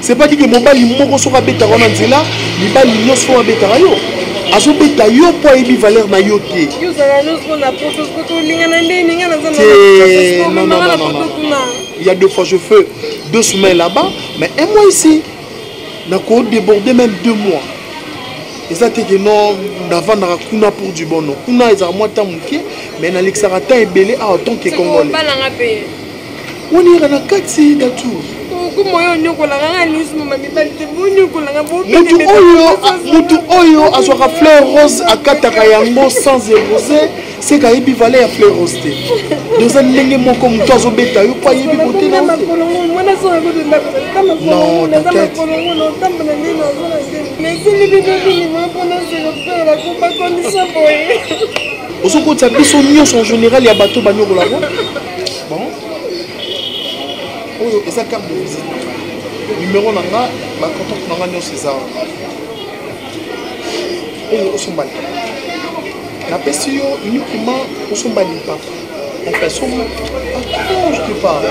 c'est pas dit que mobali moko soki abetaka wana nzela mibali nyonso oyo abetaka yo azobeta yo mpo ayebi valeur na yo te il y a deux fois je fais deux semaines là-bas mais un mois ici nako déborde même deux mois eza te ke non navandaka kuna pour du bon non kuna ezalaka mwa ntango moke mais nalekisaka ntango ebele awa tant ke congolais oniyaka na kati na tour mutu oyo azwaka fleur rose akataka yango sans erose seka ayebi vale ya fleur rose te doza ndenge moko motu azobeta yo po ayebi bote na ozokotisa biso nyonso en général ya bato banyokola ngo bon oyo eza carte de visite numero na nga bacontact na nga nyonso eza oyo osomba lipa napesi yo uniquement osomba lipa en façon je te parle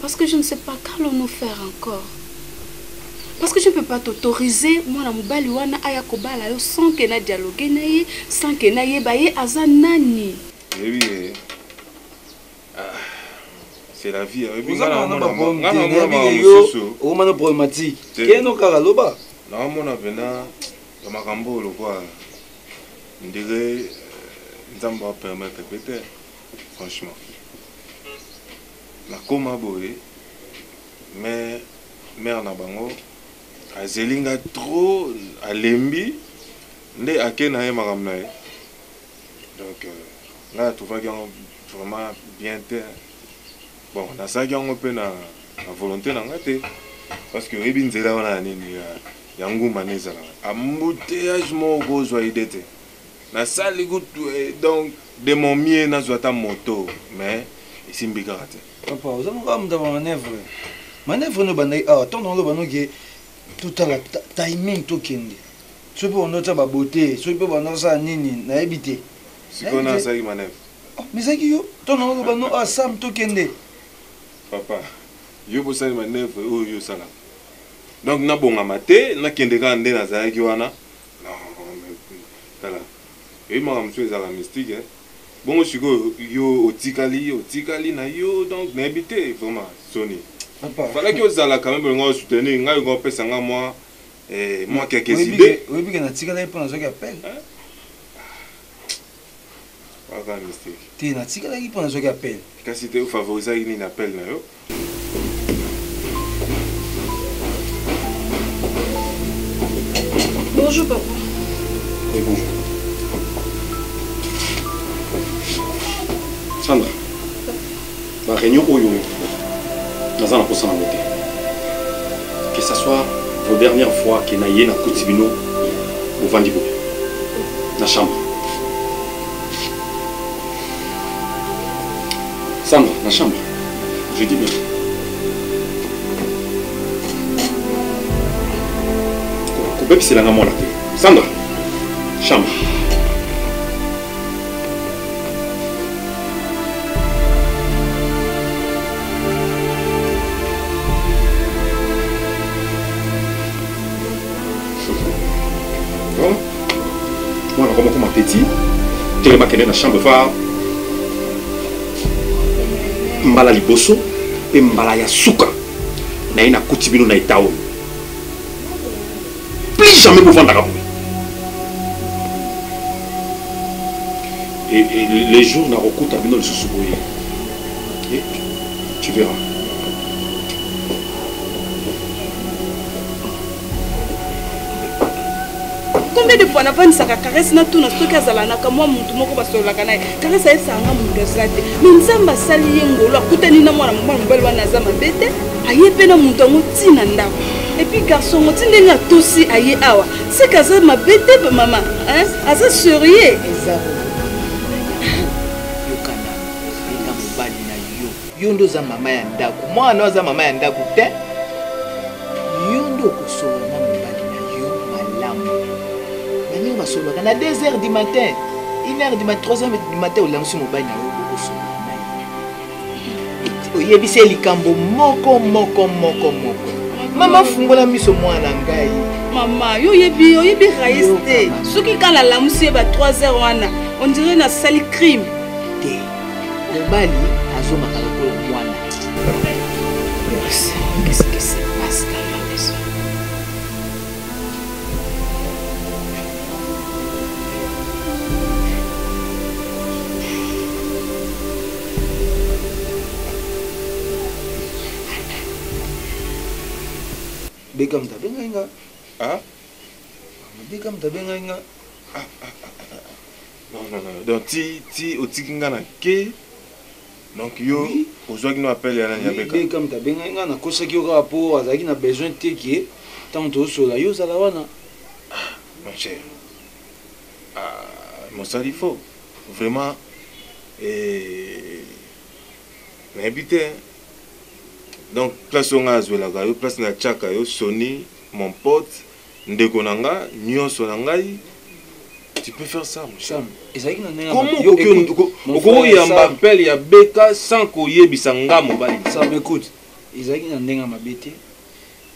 Parce que je ne sais pas qu'allons-nous faire encore. Parce que je ne peux pas t'autoriser, moi, na mobali wana aya kobala yo sans que na dialoguer na ye, sans que na yeba ye aza nani. Eh oui. Eh. Ah. C'est la vie. Eh, Vous avez un bon yo, au moins problématique. Qu'est-ce que kaka loba? Na mona vena ya makambo lokwa. Ndire eh, nzambo a permettre peut-être. Franchement nakoma boye mais mère na bango azeli nga trop alembi nde ake na ye makambo na ye donc nga na trouvaki yango vraiment bien te bon nasalaki yango mpe na na volonté na nga te parce que oyebi nzela wana ya nini ya, ya nguma nde ezalaka embouteillage moko kozwa ide te Na sali kutu donc de mon mieux na zwa ata moto mais esimbi kaka te. Papa oza moko amuta ba manœuvre manœuvre no bandaki awa tonton oloba no ke totala timing tokende soki mpe bando tya ba beauté soki mpe bando osala nini nayebi te sikoyo na asaki manœuvre oh, mais ezalaki yo tonton oloba no awa sam tokende papa yo bosali manœuvre oyo yo osalaka donc nabongama te nakende kaka nde nazalaki wana Tala eyebi makambo mosusu ezalaka mystique eh. Bongo sikoyo yo otikali otikali na yo donc nayebi te vraiment soni. Falaki ozala quand même olinga o soutenir ngai olinga opesa nga mwa eh mwa quelques idées. Oyebi ke natikala ye mpo nazwaki appel. Aza mystique. Te natikalaki mpo nazwaki appel. Kasi te ofavorizaki nini appel na yo? Bonjour papa. Oui, bonjour. Sandra. ba réunion oyo naza na posa nango te que ça soit vos dernière fois que na ye nakuti bino bovandi boye na chambre sandra na chambre je dis bien kobebisela nga mwana te sandra chambre petit telema kende na chambre fa mbala liboso mpe mbala ya suka naye nakuti bino na eta oyo plus jamais bovandaka boye les jours nakokuta bino lisusu boye tu verras combien de fois navanisaka caresse natuna soki azalanaka mwa motu moko basololaka naye caresse ayesanga motu aza te me nzambe asali ye ngolo akutani na mwana mobali mobali wana aza mabe te aye mpe na motu yango ti na ndako epuis garçon ngo ti ndenge atosi aye awa seke aza mabe te bamama aza serieux eza yokana benga mobali na yo yo nde oza mama ya ndako mwana oyo aza mama ya ndako te yo nde okosolola na mobali na yo malamu baninga basololaka na 2 heures du matin 1 heure du matin 3 heures du matin olamwisi mobali na yo oyebisi ye likambo moko moko moko moko mama fungola miso mwana ngai mama yo oyebi oyebi rais te soki kaka nalamusi ye ba 3 heures wana ondire nasali crime te mobali azongaka lokola mwana Qu'est-ce qui se passe dans la maison Beckham ta benga inga. Ah. Beckham ta benga inga. Ah, ah, ah, ah. Non, non, non. Donc, ti, ti, otiki nga na ke. Donc, yo, oui. ozwaki no appel ya nani ya Beckham. Beckham ta benga inga na kosaki yo kaka po azalaki na besoin te ke tango tozosola yo ozala wana. Ah, mon cher. Ah mosali faux vraiment eeh nayebi te donc place oyo ngai nazwelaka yo place natiaka yo soni mon pote ndeko na nga nyonso na ngai tu peux faire ça mon cher ezalaki na ndenge comment yo okoki écoute, mon okoki frère, koyamba Sam. appel ya beka sans koyebisa nga mobali na ça m'écoute ezalaki na ndenge ya mabe te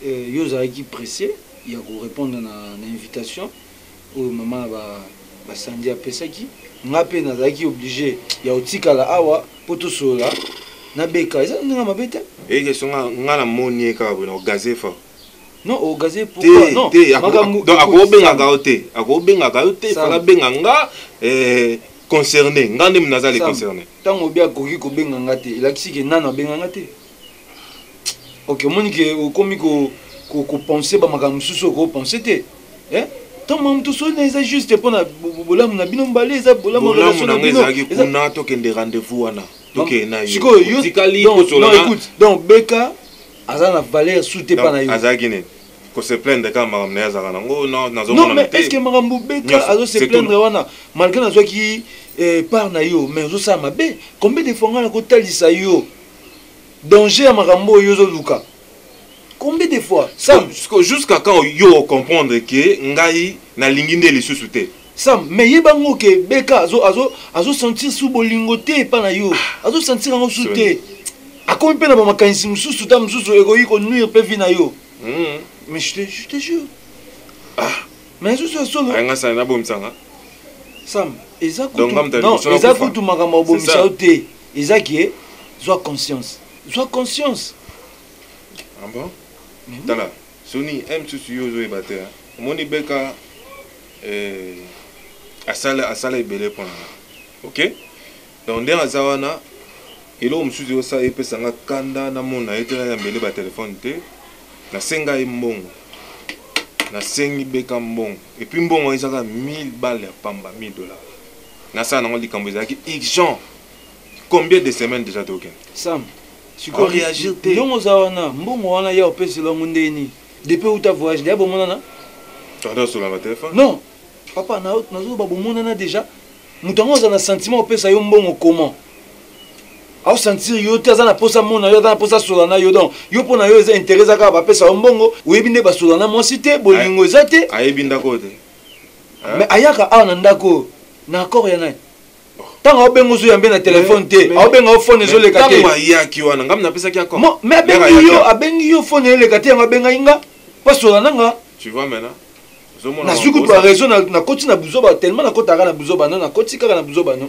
Euh, yo ozalaki pressé ya korépondre na, na invitation oyo mama na ba ba sandi apesaki nga pe nazalaki oblige ya otikala awa po tosolola na beka eza na ndenge mabe te eke songa nga na moni ye kaka boye na ogaze fort non ogaze pourquoi non te donc akobengaka yo te akobengaka yo te fala benga nga eh, concerné nga nde naza le concerné ntango obi akoki kobenga nga te elakisi ke nano abenga nga te ok omoni ke okomi kopense bamakambo mosusu oyo kopense te eh? ntango makambo tosoli na eza juste mpo na bolamu na bino mbale eza bolamu na bino ezalaki kuna tokende rendez-vous wana tokende na yo otikali kosolana donc beka aza na valeur su te mpa na yo azalaki nini kose plaindre kaka makambo naye azalaka nango nazomona te eske makambo beka azose plaindre wana malgré nazwaki eh, part na yo mais ozosala mabe combien de fois ngai nakotalisa yo Danger ya makambo oyo ozo luka. Combien de fois? Sam. Siko jusqu'à quand yo o comprendre que ngai na lingi nde lisusu te? Sam, mais yeba ngo que BK azo azo azo sentir sous bolingo te epa na yo. Ah. Azo sentir yango sous te. Akomi pe na ba makanisi mususu ta mususu ekoki ko nuire pe vie na yo. Mm. Mais je te je te jure. Ah. Mais sous sous. Nga sana na bomsanga. Sam, eza kutu. Donc, eza kutu makambo bomisa te. Eza que zwa conscience. Zwa conscience. Ah bon? Mais Tala, Sony, un msusu yo ozoyeba te. Omoni Beka eh, asala asala ebele mpo na ok donc ndenge aza wana eloko mosusu eyosa epesa nga kanda namona ye te nayambele batelefone te nasenga ye mbongo nasengi beka mbongo epuis mbongo ezaka 1000 bale ya pamba 1000 dollars nasala nango likambo ezalaki urgent combien de semaines déjà tokende sam sikoyo réagir te ndongo oza wana mbongo wana ya opesela yango ndenge nini depuis outa voyage deya bomonana tonton solanga telefone non papa nazoloba bomonana déjà moto yango aza na sentiment opesa yo mbongo comment aosentir yo te aza na mposa mona yo aza na mposa asola na yo donc yo mpo na yo eza interesa kaka bapesa yo mbongo oyebi nde basola na mwasi te bolingo eza te ayebi ndako te Hein? mais ayaka awa na ndako oyo na accord ya nani ntango aobenga ozoyambe na telefone te aobenga yo fone ezoleka te ntango ayaki wana ngai napesaki accord Mo- mais Yaka abengi ayaki yo awa. abengi yo fone eleka te yango abengaki nga pasola na nga tu vois maintenant ozomona nazwi kutu makosa. baraison nakoti na buzoba tellement nakotaka na buzoba no nakoti kaka na buzoba no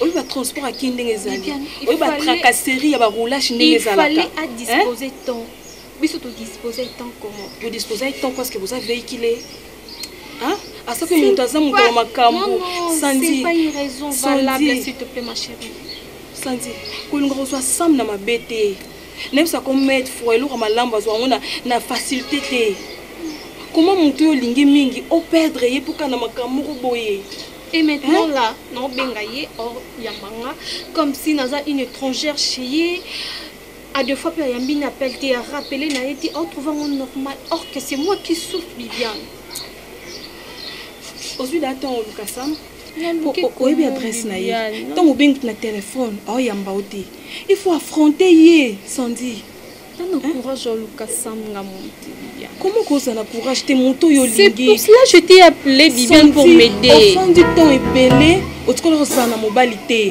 oyo ba transport ya kin ndenge ezali oyo ba tracasserie ya ba roulage ndenge ezalaka il fallait à disposer temps biso to disposer temps comment vous disposer temps parce que vous avez véhiculé hein à ce que moto aza moto ya makambo sanzi pas une raison valable s'il te plaît ma chérie sanzi kolinga kozwa sam na mabe te nayebisa ko maître froid eloko malamu azwa yango na facilité te comment moto oyo olingi mingi operdre ye mpo kaka na makambo moko boye Et maintenant hein? là, non benga ye or yambanga comme si naza une étrangère chez ye. À deux fois, il y a mis appel, t'es rappelé, n'a été en trouvant mon normal. Or que c'est moi qui souffre, Viviane. Aujourd'hui, là, t'en Lucas Sam. oyebi adresse na ye ntango obengi na telefone aoyamba yo te il faut affronter ye sandi Tana hein? courage oluka samga monte Bibiane. Comment cause na courage te moto yo lingi. C'est pour cela je t'ai appelé Bibiane pour m'aider. Au fond du temps ebele otikola kozala na mobali te.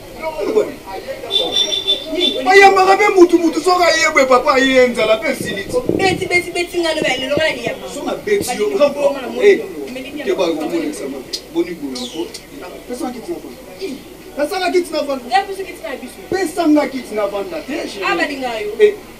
bayambaka mpe mutu mutu soki ayebwe papa aye nzala mpe esiliti pesanga kiti na vanda te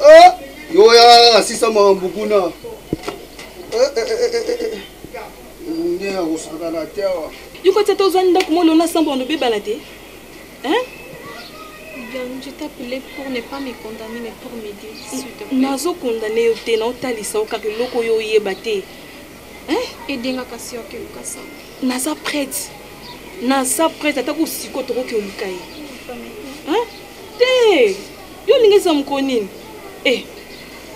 Eh, yo oyaka kaka sisa makambo kuna eh, eh, nde ya kosakana te awa yokoti ata ozwa ndako mwa olona sambo wana obebana te je t'appelais pour ne pas me condamner mais pour m'aider s'il te plaît nazo condamner yo te naotalisa yo kaka eloko oyo oyeba te edenga kasi yo akeluka sambo naza prête naza prête ata kosiko tokoki oluka ye te yo olingi eza mokolo nini e eh,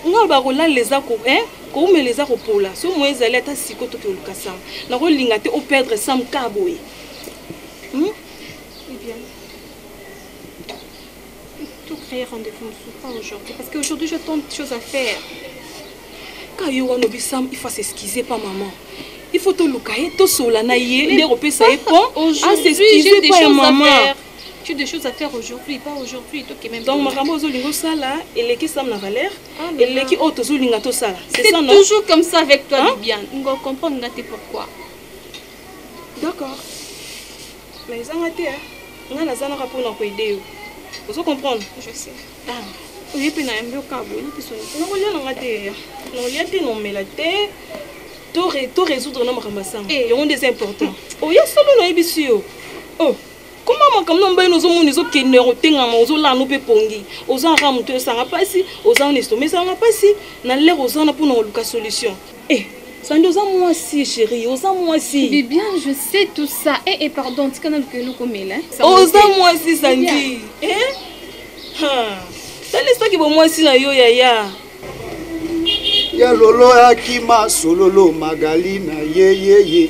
nga oloba kolala eza ko eh, koumela eza kopola so moye ezali ata siko toki oluka sam nakolinga te operdre sam ka boye hmm? eh tout créer rendez-vous pas aujourd'hui parce que aujourd'hui j'ai tant de choses à faire ka yo wana obi sam il faut s'excuser pas maman il faut toluka ye tosola na ye nde kopesa ye po asexcuse pa ya mama tu des choses à faire aujourd'hui pas aujourd'hui tokende donc makambo ozolinga osala eleki sam na valeur ah, eleki oyo tozolinga tosala c'est ça non toujours comme ça avec toi hein? bien ngo comprendre nga te pourquoi d'accord mais ezanga te nga nazanaka mpona koede yo ozo comprendre je sais ah. oye mpe nayambi okabo oye mpe soni nakolia nanga te nakolia te nomela te to résoudre na makambo ya sango eh. yango nde eza important oya solo nayebisi yo oh koma makambo na mobali ozomona ezokende kotengama ozolana mpe pongi oza kaka moto esanga mpasi oza wana estoma esanga mpasi na lere oza wana mpona koluka solution eh, sandi oza mwasi sheri oza mwasi bibian je sais tout ça e eh, e eh, pardon tika naluka eloko mela oza mwasi sandi eh? talisaki bomwasi na yo yaya ya lolo akima sololo magali na yeyeye ye, ye.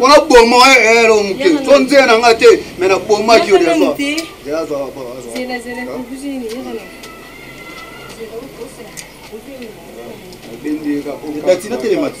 wana bomo ero moke to nzela na ngai te me na bomaki yo dati natelemaki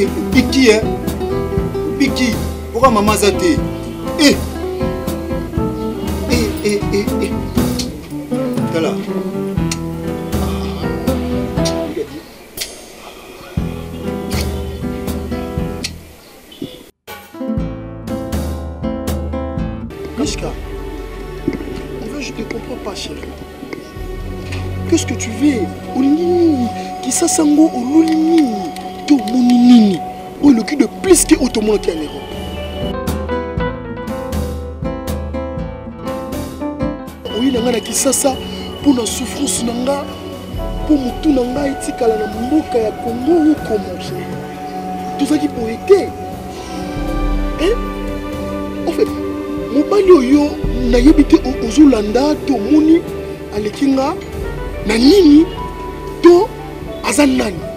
obiki e obiki oka mama aza te e tala Mishka, en fait, je te comprends pas, chérie. Qu'est-ce que tu veux olingi nini kisasa ngo oluli nini to omoni nini oyo eloki de plus ke oyo tomonaki ya lero oyi na ngai na kisasa mpo na souffrance na ngai mpo motu na ngai etikala na mboka ya kongo okomaki tozalaki boye te eh? en fait mobali oyo nayebi te ozolanda to omoni aleki nga na nini to aza nani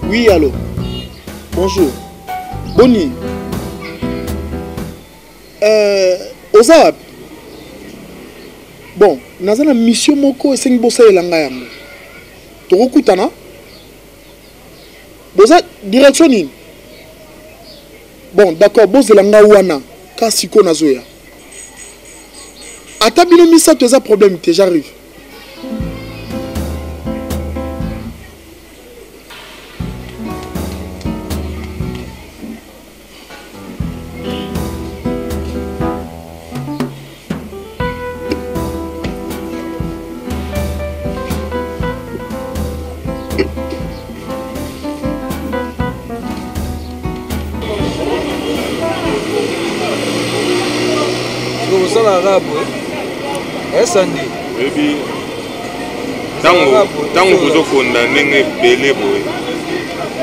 Oui, allô Bonjour. Boni euh, oza wapi bon naza na mission moko esengi bosalela ngai yango tokokutana boza direction nini bon d'accord bozela nga wana ka sikoyo nazoya ata bino misato eza problème te j'arrive ozala arabe esandi eh? oyebi ntango bozokonda ndenge ebele boye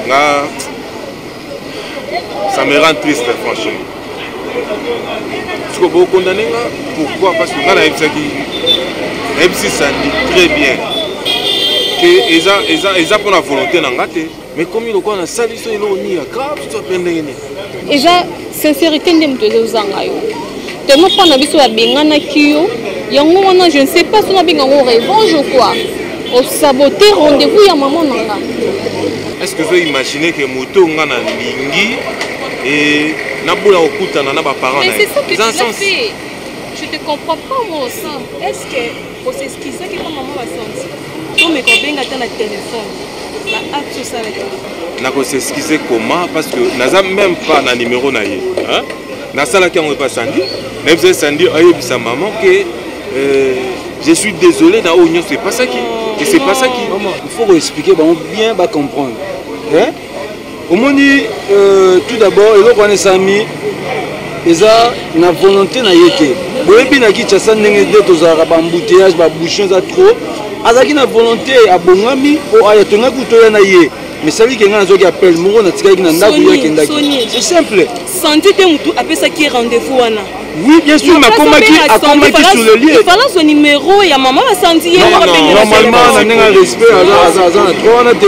nga ça me rend triste franchement sikoyo bokondane nga pourquoi parce que nga nayebisaki nayebisi sandi très bien ke eza eza eza mpo na volonté na nga te mais komi lokola nasali so eloko nini ya grave so mpe ndenge nini eza sincerité nde moto ezozanga yo tellement mpo na biso babenganaki yo yango wana je ne sais pas sona benga yango revanche ou quoi osabote rendez-vous ya mama na nga est ce que ozo imagine ke moto oyo nga nalingi e nabola kokutana na baparent na ye eza sens je te comprends pas moi aussi est ce que Ko s'excuser ki pa maman ba santi. To me ko benga ta na telephone. Ba acte sala ki. Na ko s'excuser comment parce que naza même pas na numéro na ye. Hein? Na sala ki yango pa Sandy. Na bisa Sandy ayebisa maman que euh, je suis désolé na oyo nyonso epasaki. Et c'est pas ça qui. Il faut ko expliquer bango bien ba comprendre. Hein? omoni euh, tout d'abord eloko wana esalami eza na volonté na ye te boyebi na kinshasa ndenge nde tozalaka baembouteillage babouchon eza trop azalaki na volonté abongami o aya tongaki utoya na ye misali ke ngai nazwaki appel moko natikaki na ndako ye akendaki c'est simple santi te motu apesaki ye rendez-vous wana oui bien sûr mais akomaki akomaki sur le lieu falazwa numéro ya mama basanti ye normalement na ndenge ya respect aza na droit wana te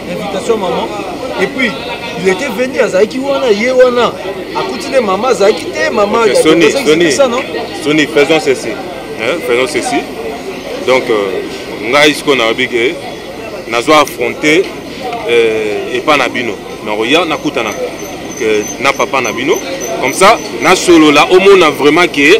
invitation maman et puis il était venu azalaki wana ye wana akuti nde mama azalaki te mama soni faisons ceci hein, faisons ceci donc euh, ngai sikoyo nayobi ke nazwa affronte euh, epa na bino nakoya nakutanaka na papa na bino comme ça nasolola omona vraiment ke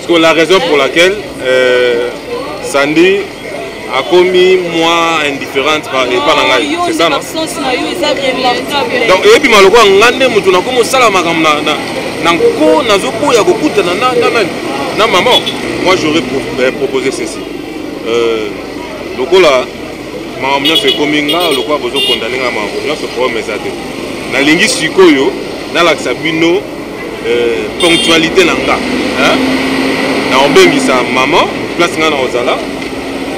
Sikoyo la raison pour laquelle euh, Sandy akomi moins indifférente epa na ngai c'est ça non donc eyebi ma lokola ngai nde moto nakomi osala makambo na nko nazoboya kokutana na nani na mama moi j'aurais euh, proposé ceci euh, lokola makambo nyonso ekomi nga lokola bozokondane nga makambo nyonso problème eza te nalingi sikoyo nalakisa bino euh, ponctualité na nga hein? na obengisa maman place nga na ozala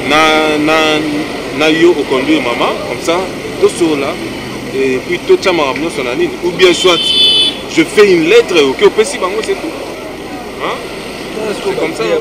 na, na, na yo oconduire maman comme ça tosolola et puis totya makambo nyonso na nini ou bien soit je fais une lettre oke opesi bango c'est tout hein? c'est comme ça hein?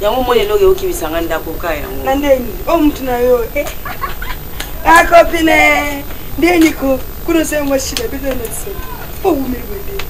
Yango moni eloko eokimisa nga ndako ka yango. Na ndeni o oh, mutu na yo. Eh. Ah copine. Ndeni ko kuna se mo shida bebe na se. Po wumeli wende.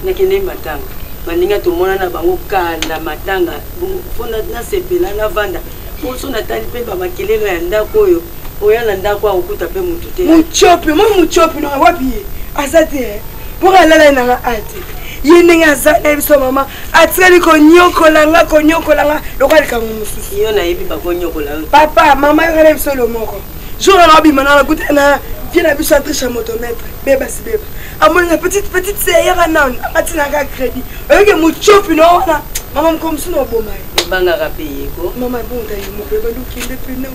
Nakende matanga. Baninga tomona na bango kala matanga. Mpo nasepela navanda. Mpo so natali mpe bamakelelo ya ndako oyo oya na ndako akokuta mpe motu te mocopi moi mocopi nanga wapi ye aza te eh. mpo alala ye nanga ate ye ndenge aza na ye biso mama atikali konyokola nga konyokola nga lokola likambo mosusu yo nayebi bakonyokola yo papa mama yokana biso elo moko jour wana obima na nakuta na vie na biso atrisha motomètre beba si beba amoni na petite petite seyaka nanu atinaka crédit oyoki mocopi na wana mama moko mosusu na oboma ye ebangaka mpe yeko mama ebonga ye moko ebandi okende mpe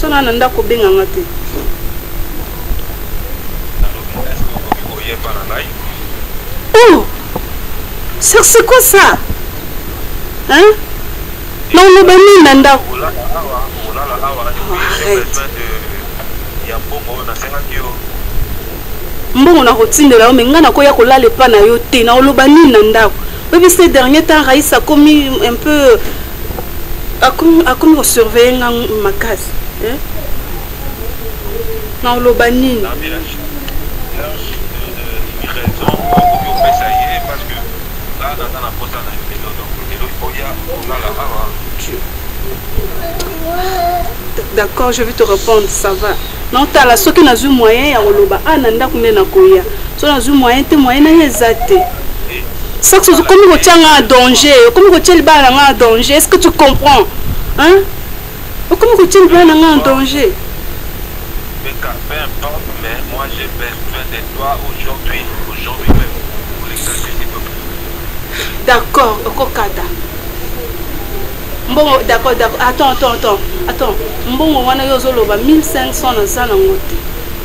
so na na ndako obenga nga te oh sir c'est quoi ça hein na oloba nini na ndako mbongo nakotindela yo me ngai nakoya kolala epa na yo te na oloba nini na ndako oyebi se dernier temps raïs akomi un peu akomi akomi ko surveiller nga makasi eh? na oloba nini D'accord, je vais te répondre, ça va. naotala soki nazwi moyen ya koloba a ah, na ndako nde nakoya so nazwi moyen te moyen naye eza te soki okomi kotya nga na danger okomi kotya libala na nga na danger est ce que tu comprends hein? okomi kotya libala na nga na danger d'accord okokata mbongo d'accord d'accord attends attends attends attends mbongo wana yo ozoloba 1500 naza nango te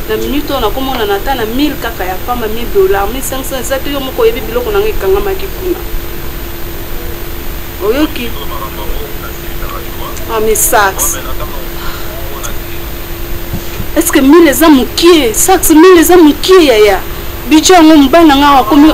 na minute oyo nakomonana ata na 1000 kaka ya pamba 1000 dollar 1500 eza te yo moko oyebi biloko nanga ekangamaki kuna oyoki ah, mais sax est ce que 1000 eza mokie sax 1000 eza mokie yaya budget yango mobali nanga akomi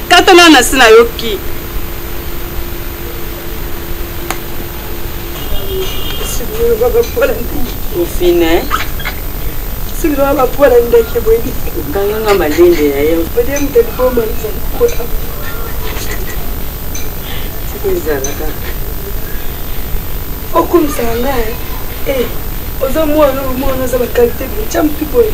Tata na nasi na yo ki. Ofine. Silo aba pola ndeke bweni. Kanga nga malende ya yo. Bode mte boma nzali kwa. Siko izala ka. Okumisa nga eh. Oza mwana mwana za ba qualité de champion.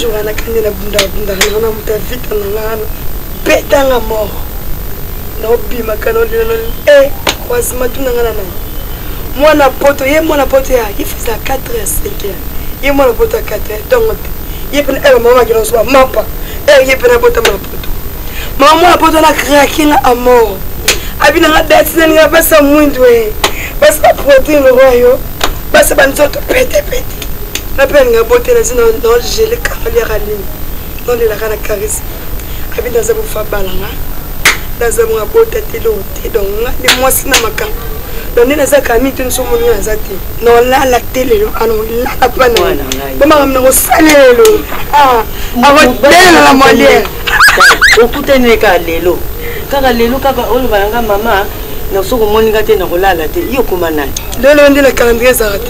jour wana kende na bunda bunda na na muta vita na nga na beta nga mort na obima kana olina na eh croisement tuna nga na na mwana poto ye mwana poto ya il faisait à 4 heures 5 heures ye mwana poto à 4 heures donc ye pena eh maman kila soba mapa eh ye pena bota mwana poto maman mwana poto na craquer nga à mort abina nga date na nga basa mwindu eh basa protein royo basa banzoto pete pete ape alinga botela zina nogele kaliaka nini nolelaka na karise abi naza bofa balanga naza bonga bota te loo te donc nga nde mwasi na makambo donc nde naza kami te nso moni naza te nolala te lelo anolala pa na bomakambo na kosala lelo akotelala moliere okutani eka lelo kaka lelo kaka olobana nga mama naso komoni nga te nakolala te yo okoma nani lelo nde na calendrier ezalaka te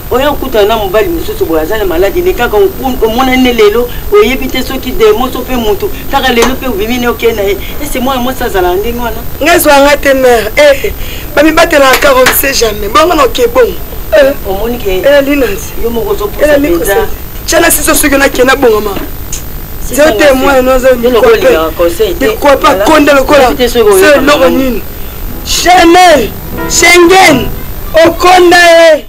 oye okutana na mobali mosusu boye aza na maladi ne kaka omonani ne lelo oyebi te soki demo so mpe motu kaka lelo mpe obimi ne okei na ye ese mwana mwasi azalaka ndenge wana ngai zwanga te mare eh, eh, bamibatelaka kaka omse jamais bongo na oke bongo eh, omoni ke elali nansi yo moko ozopusa mpenza tiana siso soki nake nabongama zero te mwana noza likwape akonda lokola se eloko nini chanel shengen okonda ye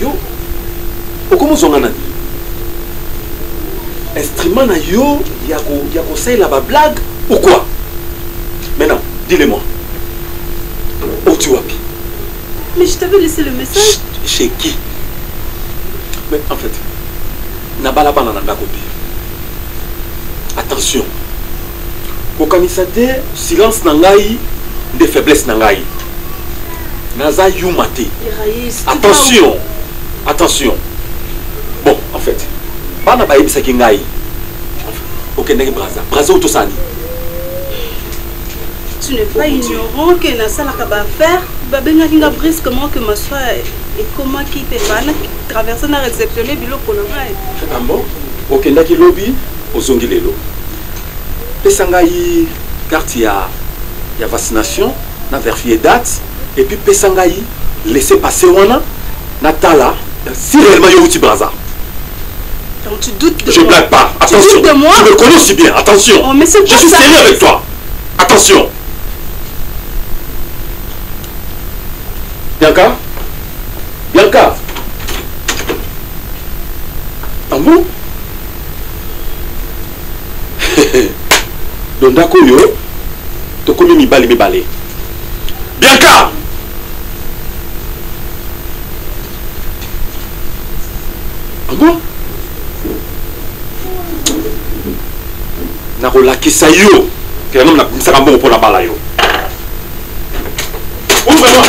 yo okomi ozwa nga nani instrument na yo ya kosalela bablague ou quoi maintenant dis-le moi oti wapi mais je t'avais laissé le message chez qui mais en fait nabalabala na ndako te attention kokanisa te silence na ngai nde faiblesse na ngai naza yuma te attention attention bon en fait bana bayebisaki ngai okendaki braza braza oyo tosala nini tu n'es pas ignorant que nasalaka baaffaire babengaki nga brusquement que maswa ekomaki mpe bana traverse na réceptionne biloko na ngai ah bon okendaki lobi ozongi lelo pesa ngai carte ya, ya vaccination na verifie date et puis pesa ngai laisser passer wana natala si réellement yo outi braza Donc tu doutes de je moi. blague pas Tu attention doutes de moi tu me connais aussi bien attention Oh, mais c'est je quoi suis ça sérieux avec toi attention bianca bianca ah bon do ndako oyo tokomi mibali mibale bianka ango ah nakolakisa yo kela nomi nabimisaka mbongo mpo nabala yo ouvre moi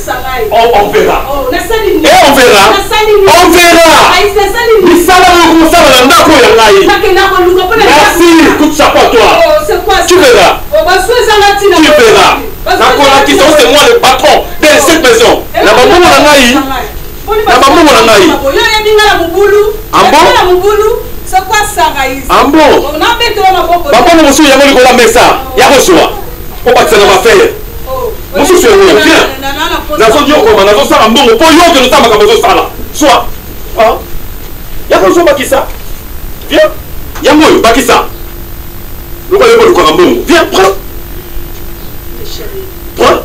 Oh, on verra. Oh, on verra. On verra. Misala yango kosala na ndako ya ngai. Merci, coup de chapeau à toi. Oh, tu verras. Tu verras. nakolakisa ose moi le patron de cette maison eh, na bambongo na ngai na bambongo na ngai ambo bambongo mosusu yango likolo ya mesa ya kozwa obakisa na mafere mosusu yango bien nazonyokoma nazosala mbongo mpo yo okende osala makambo ozosala swa ah. yaka ozobakisa bien yango oyo bakisa lokola yo kolukaka mbongo bien prend prend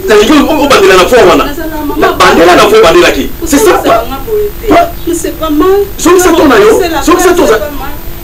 nalingi obandela na foi wana bandela na foi obandelaki c'est ça zongisa to na yo zongisa to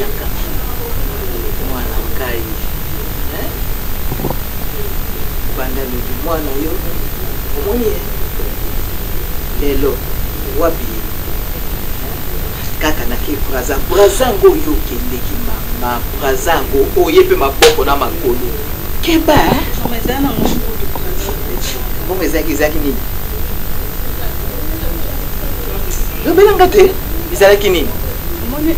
Yaka mwana ngai eh? banda lobi mwana yo omoni ye lelo wapi ye eh? kaka nake braza braza yango oyo okendeki mama braza yango oye mpe maboko na makolo keba eh? bongo ezalaki ezalaki nini lobela nga te ezalaki nini omoni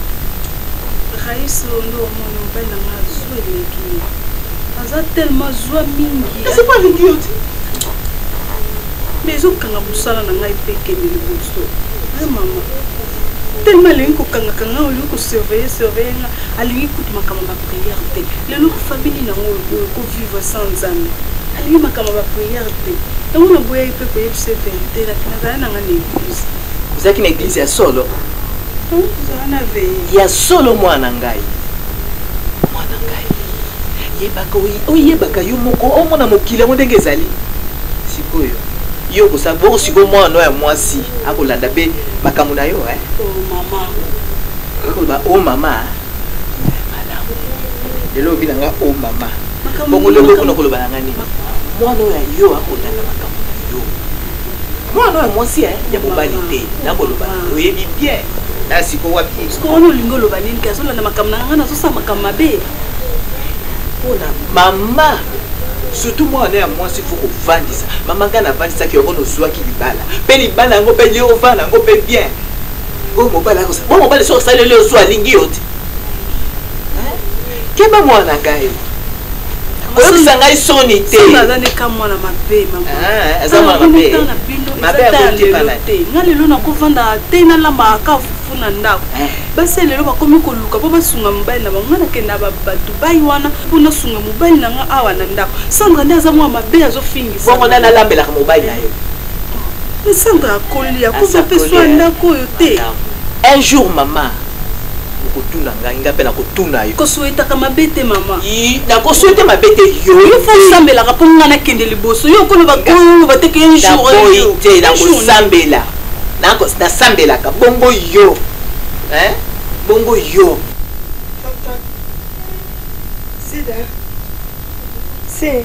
rais londo omoni mobali na nga zwa eleki ye aza tellement zwa mingi esi po alingi yo ti mais ezokanga mosala na ngai mpe ekende liboso e mama tellement alingi kokangaka ngai olingi kosurveille surveille nga alingi kutu makambo ya bapriere te lelo famili nango oyo kovivre sans nzambe alingi makambo ya bapriere te yango naboyaki mpe koyebisa verité nazali na ngai na eglise ozalaki na eglize ya solo ya solo mwana ngai mwana ngai yebaka oyebaka yo moko omona mokili yango ndenge ezali sikoyo yo okosala boko sikoyo mwana oyo ya mwasi akolanda mpe makambo na yo eh? oh, akoloba o oh, mama lelo obi na nga o oh, mama bokoloba okona koloba na nga nini mwana oyo ya yo akolanda makambo na yo mwana oyo mwasi eh, ya mobali te nakoloba oyebi bien na siko wapi wana olingi oloba nini ke azolanda makambo na nga nazosala makambo mabe mpona mama surtout mwana ya mwasi fo kovandisa mama ngai navandisaki yango nozwaki libala mpe libala yango mpe liovana yango mpe bien oyo mobali akosa bo mobali soki osaleli yo so alingi yo te keba mwana ngai koyokisa ngai soni te aza neka mwana mabe ah, aza mwana mabe mabe akoyokepana te nga lelo nakofanda te nalamba ka fufu na ndako eh. basi ya lelo bakomi koluka mpo basunga mobali na bango nga nakenda bato bai wana mpo nasunga mobali na nga awa na ndako sandra nde aza mwana mabe azofingisa bongo nde nalambelaka mobali na yo Sandra akoli akufa mpe swa ndako oyo te. Un jour mama okotuna ngai ngai mpe nakotuna yo. Kosuetaka mabe te mama. Nakosuete mabe te yo. Yo fo osambelaka mpo ngai nakende liboso. Yo okoloba koloba te ke un jour. Naboyi te nakosambela. Nasambelaka bongo yo. Hein? Bongo yo. Sida. C'est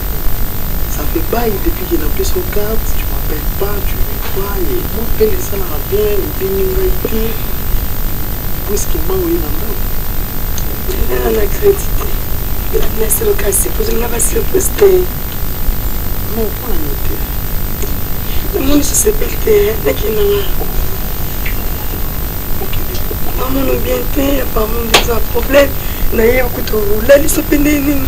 ça fait bail depuis que napesi yo carte tu m'appelle pas tu me crois ye moi mpe esalaka bien obengi ngai te puiske ma oye na ndako ezala na crédit te elabinasi lokasi pozolinga basi lokosi te non mpo na nini te namoni sosepeli te nakinanga amono bien te apamondeza problème naye okutu olalisa mpe nde nini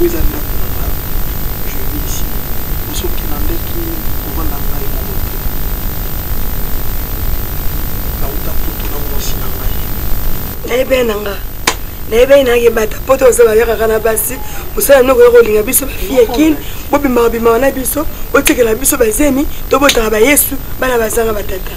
Oyo eza ndako na nga, je vis ici. Mais soki okilandaki kovanda na ngai moko te. Nauta poto na mwasi na ngai. Nayebani na nga. Nayebani na ye bata poto oza bayakaka na basi. Mosala noko ya kolinga biso ba fille kin. Bobimaka bimaka na biso. Botikela biso bazemi. Tobotaka ba yesu. Bana bazanga batata.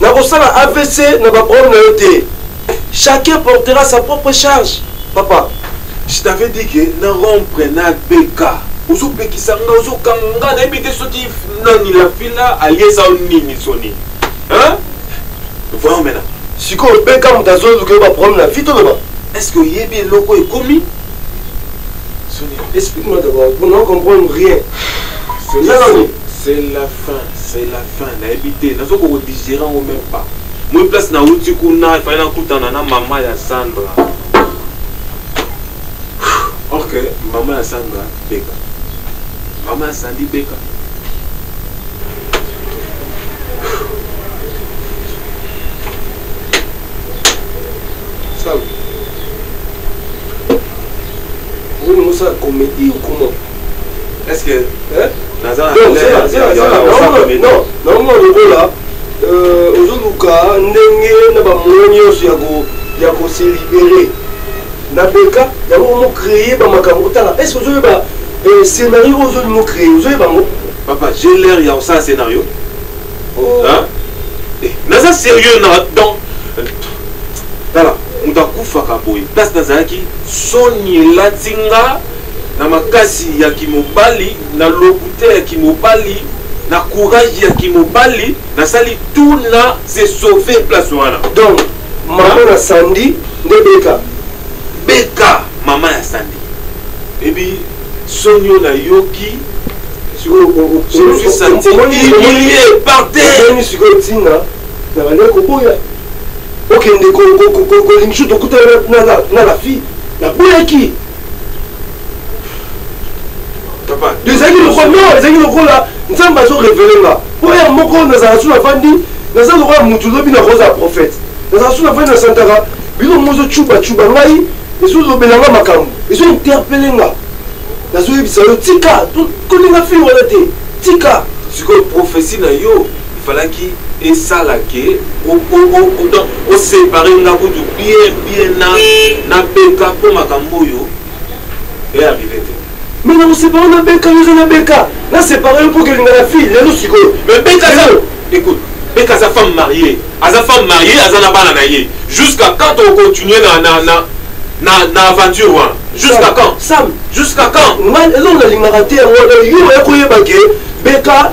Nakosala avc na ba problème na yo te. Chacun portera sa propre charge papa. Je t'avais dit que na rompre na BK. Ozo pekisa nga, ozo kanga nga, nayebi te soki nani la fila aliesa nini soni. Hein? Voyons maintenant. Sikoyo BK moto azoluka yo ba problème na vie toloba. Est-ce que oyebi eloko ekomi? Soni. Explique-moi d'abord, on ne comprend rien. C'est la fin, c'est la fin. Enfin, nayebi te nazo ko digérer yango même pas moi place na uti kuna efali nakutana na mama ya sandra or que mama ya sandra beka mama ya sandi beka Salut. Vous, nous, ça, comédie ou comment Est-ce que naza na non non non lokola euh, ozoluka ndenge na bamoyen nyonso ya ko ya ko se libérer na beka yango omo créer ba makambo otala est-ce que ozoyeba euh, scénario oyo ozoli mo créer ozoyeba yango papa j'ai l'air ya kosala scénario oh. eh, naza sérieux na donc tala moto akufaka boye place nazalaki soni elati nga na makasi ya kimobali, na lokuta ya kimobali, na courage ya kimobali, nasali tout na se sauver place wana. Donc maman na Sandy nde Beka. Beka maman ya Sandy. Ebi sonio na yoki je me suis senti humilié par terre. Omoni sikoyo ntina na bandeko koboya okende kolingi biso tokuta na la fille naboyaki ezalaki lokola non ezalaki lokola nzambe azo revele nga mpo ya moko nazala su nafandi naza lokola motu lobi nakozala prophète nazala su nafandi nasantaka bino mozo cuba cuba ngai ezolobela nga makambo ezo interpele nga nazoyebisa yo tika kolinga fille wana te tika sikoyo profesi na yo il falaki esala ke osepare nga kutu bien bien na na beka mpo makambo oyo earrive te me na kosepare na beka yo eza na beka nasepare yo mpo kelinga na fille lelo sikoyo me beka zao écoute beka aza femme mariée aza femme mariée aza na bana na ye jusqu'à quand ocontinue na na na na na aventure wana jusqu'à quand sam jusqu'à quand nga elongo nalingaka te yango yo oya koyeba ke beka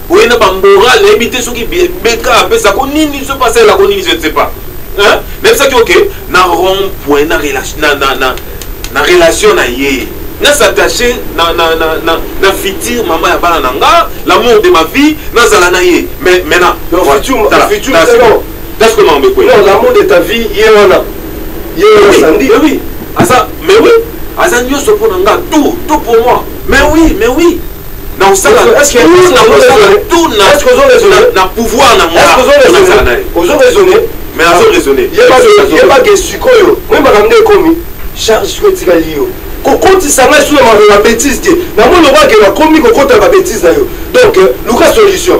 oye na bamoral nayebi te soki beka apesa ko nini soki asalela ko nini je ne sais pas nayebisaki oke na rond point na relation na ye na s'attache na, na, na, na, na futur mama ya bana na nga l'amour de ma vie nazala na ye mais maintenant that's comment on me quoi non l'amour de ta vie ye wana ye wana sandi mais oui aza mais oui aza nyonso mpo na nga tout tout pour moi mais oui mais oui na osala na pouvoir na moazala naye ozo raisonne mais azo raisonne yeba ke sikoyo moi makambo nde ekomi charge sikoyo etikali yo kokotisa ngai suna makambo ya betise te namoni lokola ke nakomi kokota babetise na yo donc luka solution